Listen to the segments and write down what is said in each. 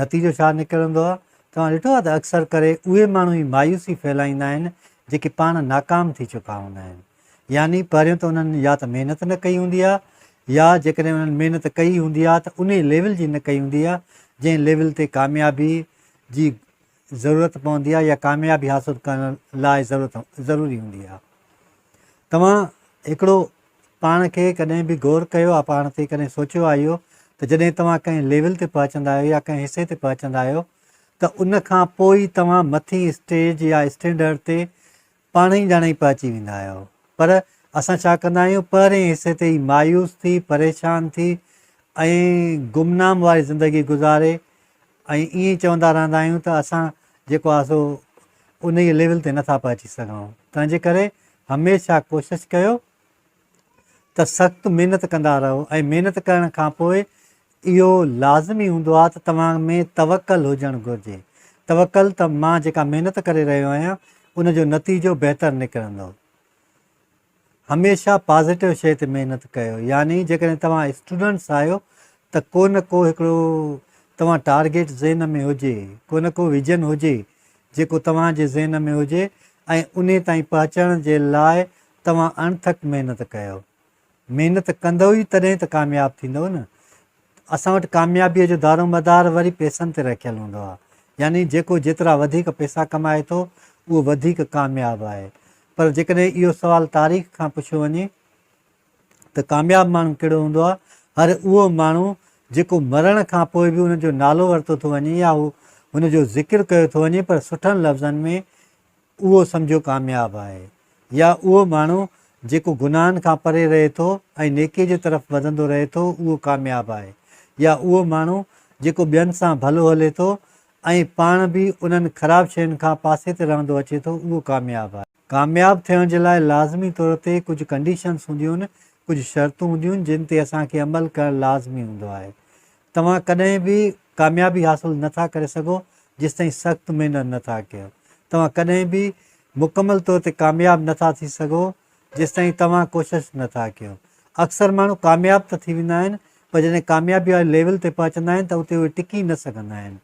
نتيجو ڇا نڪرندو آهي؟ توهان ڏٺو آهي ته اڪثر ڪري اهي ماڻهو ئي مايوسي ڦهلائيندا آهن جيڪي پاڻ ناڪام ٿي چڪا هوندا آهن. يعني پهريون ته انهن يا ته محنت نه ڪئي هوندي آهي يا جيڪڏهن انهن محنت ڪئي هوندي آهي ته انهي ليول جي نه ڪئي هوندي آهي جنهن ليول تي ڪاميابي جي ضرورت پوندي آهي يا ڪاميابي حاصل ڪرڻ لاء ضرورت ضروري هوندي آهي توهان هڪڙو پاڻ کي ڪڏهن به غور ڪيو آهي پاڻ تي ڪڏهن سوچيو آهي اهو ته جڏهن توهان ڪنهن ليول تي پهچندا آهيو يا ڪنهن حصي تي پهچندا آهيو ته ان کان پوء ئي توهان مٿين اسٽيج يا اسٽينڊرڊ تي پاڻ ئي ڄاڻ ئي پهچي ويندا آهيو. پر اسان ڇا ڪندا آهيون، پهرئين حصي تي ئي مايوس ٿي، پريشان ٿي ۽ گمنام واري زندگي گذاري ۽ ائين ئي چوندا رهندا آهيون ته اسان جيڪو آهي سو انهيء ليول تي نٿا پهچي سگهون. تنهنجي ڪري هميشه ڪوشش ڪيو ته سخت محنت ڪندا رهو ۽ محنت ڪرڻ کان پوء اهو لازمي هوندو آهي ته توهان ۾ توڪل هجڻ گهرجي. توڪل ته مان جيڪا محنت ڪري رهيو آهيان ان جو نتيجو بهتر نڪرندو. هميشه پازيٽو شيء تي محنت ڪيو يعني جيڪڏهن توهان اسٽوڊنٽس آهيو ته ڪو نه ڪو هڪڙو توهان ٽارگيٽ ذهن ۾ هجي، ڪو نه ڪو ويزن هجي جيڪو توهان جي ذهن ۾ هجي ۽ انهي تائين پهچڻ جي لاء توهان اڻٿڪ محنت ڪيو. محنت ڪندؤ ئي تڏهن ته ڪامياب ٿيندؤ نه. اسان وٽ ڪاميابيء جو دارومدار وري پئسن تي رکيل هوندو آهي. يعني جيڪو جيترا وڌيڪ پئسا ڪمائي ٿو، اهو وڌيڪ ڪامياب آهي. پر جيڪڏهن اهو سوال تاريخ کان پڇيو وڃي ته ڪامياب ماڻهو ڪهڙو هوندو آهي؟ هر اهو ماڻهو جيڪو مرڻ کان پوء به ان جو نالو ورتو ٿو وڃي يا هن جو ذڪر ڪيو ٿو وڃي پر سٺن لفظن ۾، اهو سمجهو ڪامياب آهي يا اهو ماڻهو جيڪو گناهن کان پري رهي ٿو ۽ نيڪي جي طرف وڌندو رهي ٿو اهو ڪامياب آهي يا اهو ماڻهو جيڪو ٻين سان ڀلو هلي ٿو ۽ پاڻ به انهن خراب شين کان پاسي تي رهندو اچي ٿو اهو ڪامياب آهي. ڪامياب ٿيڻ جي لاء لازمي طور تي ڪجهه ڪنڊيشنس هونديون آهن، ڪجهه شرطون هونديون آهن جن تي اسان کي عمل ڪرڻ لازمي هوندو آهي. توهان ڪڏهن به ڪاميابي حاصل نه ٿا ڪري سگهو جيستائين سخت محنت نه ٿا ڪيو. توهان ڪڏهن به مڪمل طور تي ڪامياب نه ٿا ٿي سگهو جيستائين توهان ڪوشش نه ٿا ڪيو. اڪثر ماڻهو ڪامياب ته ٿي ويندا آهن پر جڏهن ڪاميابي واري ليول تي پهچندا آهن ته اتي اهي ٽڪي نه سگهندا آهن.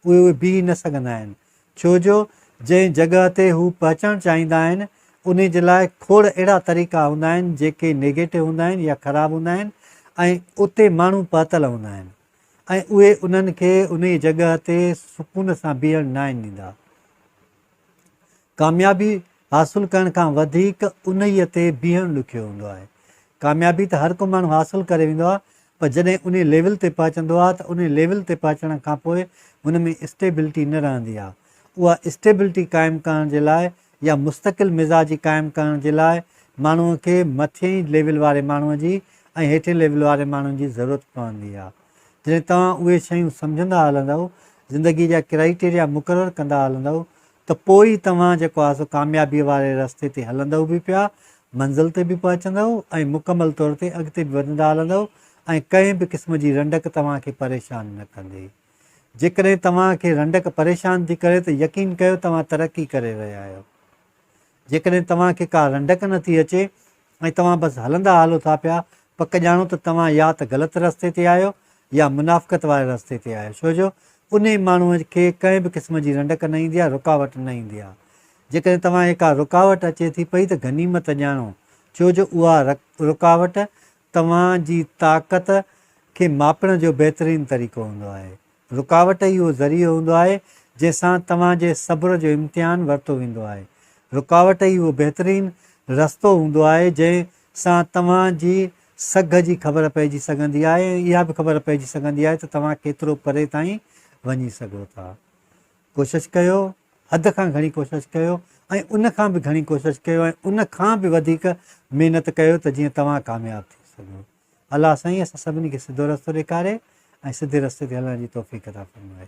اهي اهي بيهي نه سگهندا آهن. ڇو جو جنهن جڳهه تي هو پهچڻ چاهيندا آهن، انهي جي لاء کوڙ اهڙا طريقا هوندا آهن جيڪي نيگيٽو هوندا آهن يا خراب هوندا آهن ۽ اتي ماڻهو پهتل هوندا آهن ۽ اهي انهن کي انهي جڳهه تي سڪون سان بيهڻ ناهن ڏيندا. ڪاميابي حاصل ڪرڻ کان وڌيڪ انهي تي بيهڻ ڏکيو هوندو آهي. ڪاميابي ته هر ڪو ماڻهو حاصل ڪري ويندو آهي پر جڏهن انهي ليول تي پهچندو آهي ته انهي ليول تي پهچڻ کان پوء هن ۾ اسٽيبلٽي نه رهندي آهي. اها اسٽيبلٽي قائم ڪرڻ جي لاء يا مستقل مزاجي قائم ڪرڻ جي لاء ماڻهوء کي مٿئين ليول واري ماڻهوء جي ۽ هيٺئين ليول واري ماڻهن جي ضرورت پوندي آهي. جڏهن توهان اهي شيون سمجهندا هلندؤ، زندگي جا ڪرائيٽيريا مقرر ڪندا هلندؤ ته پوء ئي توهان جيڪو آهي سو ڪاميابيء واري رستي تي هلندؤ به پيا، منزل تي به پهچندؤ ۽ مڪمل طور تي اڳتي به وڌندا هلندؤ ۽ ڪنهن به قسم جي رنڊڪ توهان کي پريشان نه ڪندي. جيڪڏهن توهان کي رنڊڪ پريشان ٿي ڪري ته يقين ڪيو توهان ترقي ڪري رهيا آهيو. جيڪڏهن توهان کي ڪا رنڊڪ نه ٿي اچي ۽ توهان بس هلندا هلو ٿا پيا، پڪ ڄاڻو ته توهان يا ته غلط رستي تي آهيو يا منافقت واري رستي تي آهيو، ڇو جو انهي ماڻهوء کي ڪنهن به قسم جي رنڊڪ نه ايندي آهي، رڪاوٽ نه ايندي آهي. جيڪڏهن توهان کي ڪا رڪاوٽ اچي ٿي پئي ته غنيمت ڄاڻو، ڇو جو اها رڪاوٽ توهان جي طاقت کي ماپڻ جو بهترين طريقو هوندو آهي. رڪاوٽ ئي اهو ذريعو هوندو آهي، جنهن سان توهان جي صبر جو امتحان ورتو ويندو آهي. رڪاوٽ ئي اهو بهترين رستو هوندو آهي، جنهن سان توهان جي سگهه جي خبر پئجي سگهندي آهي ۽ اها به خبر پئجي سگهندي آهي ته توهان ڪيترو پري تائين وڃي سگهو ٿا. ڪوشش ڪيو، حد کان گهڻي ڪوشش ڪيو ۽ ان کان به گهڻي ڪوشش ڪيو ۽ ان کان به وڌيڪ محنت ڪيو ته جيئن توهان ڪامياب ٿي سگهو. الله سائين اسان سڀني کي سڌو رستو ڏيکاري ۽ سڌي رستي تي هلڻ جي توفيق عطا فرمائي.